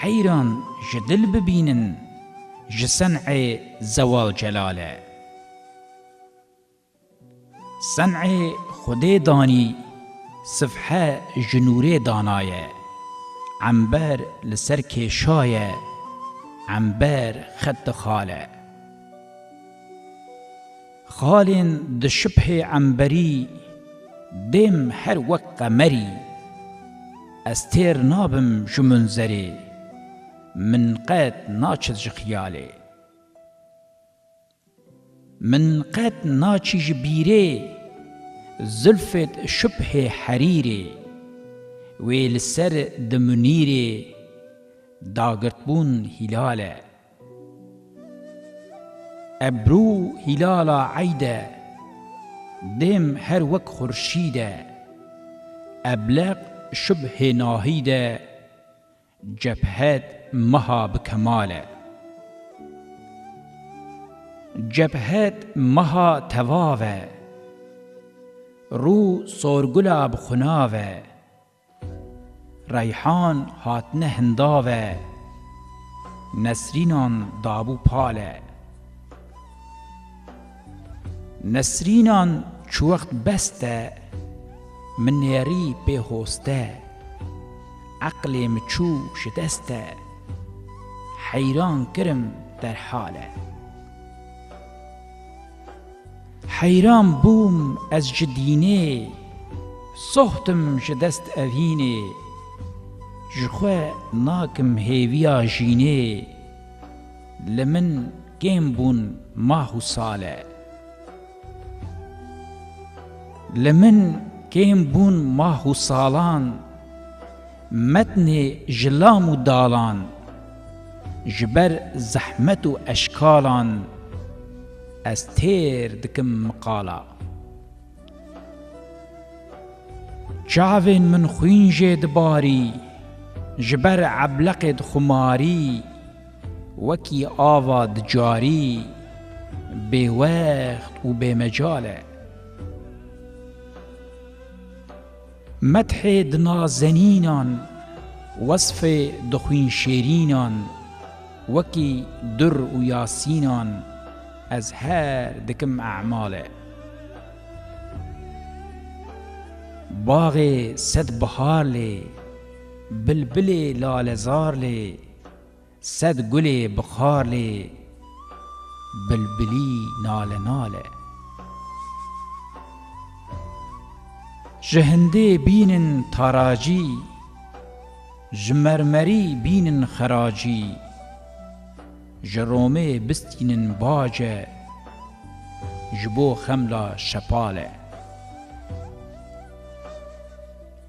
Heyran ji dil bibînin ji sencê Zewal Celal e. Sencê Xwedê danî sifhe ji nûrê danaye. Ember li ser kêşaye, ember xet dixale. Xalên di şibhê emberî Dêm her wek qemerî Ez têr nabim ji munzerê Min qet naçit ji xiyalê Min qet naçî ji bîrê Zilfêt şibhê herîrê Wê li ser di munîrê Da girtbûn hîlale. Ebru hîlala eyd e. Dêm her wek xurşîd e. Ebleq şubhê nahîd e. Cebhed meha bi kemal e. Cebhed meha tevav e. Rû sorgula bi xunav e. Reyhan hatine hindave, Nesrînan dabû pale. Nesrînan çi wext beste, min nêrî pê hoste. Eqlê min çû ji deste, heyran kirim derhale. Heyran bûm ez ji dînê. Soxtim ji dest evînê. Ji xwe nakim hêviya jînê. Li min kêm bûn mah û sale. Li min kêm bûn mah û salan. Metnê ji lam û dalan. Ji ber zehmet û eşkalan ez têr dikim miqala. Çavên min xwîn jê dibarî, ji ber ebleqê dixumarî, wekî ava di carî bêwext û bêmecal e. Medhê di nazenînan, wesfê di xwînşêrînan, wekî dur û yasînan ez her dikim emale. Baxê sed bihar lê, bilbilê lalezar lê. Sed gulê bi xar lê bilbilî nale nale. Ji hindê bînin taracî, ji mermerî bînin xeracî, ji romê bistînin bace, ji bo xemla şepale.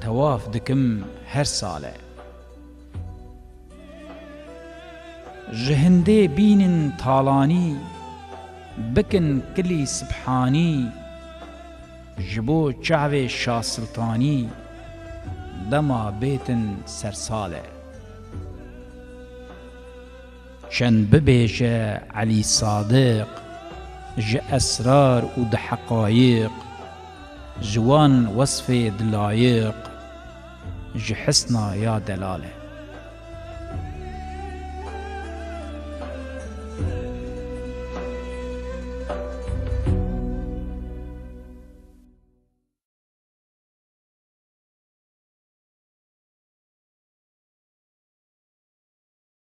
Tewaf dikim her sale. Ji hindê bînin talanî. Bikin kilî sibhanî. Ji bo çavê şasiltanî. Dema bêtin sersale. Çend bibêje Elî Sadiq ji esrar û di heqayiq, ji wan wesfê di layiq, ji hisna ya delal e.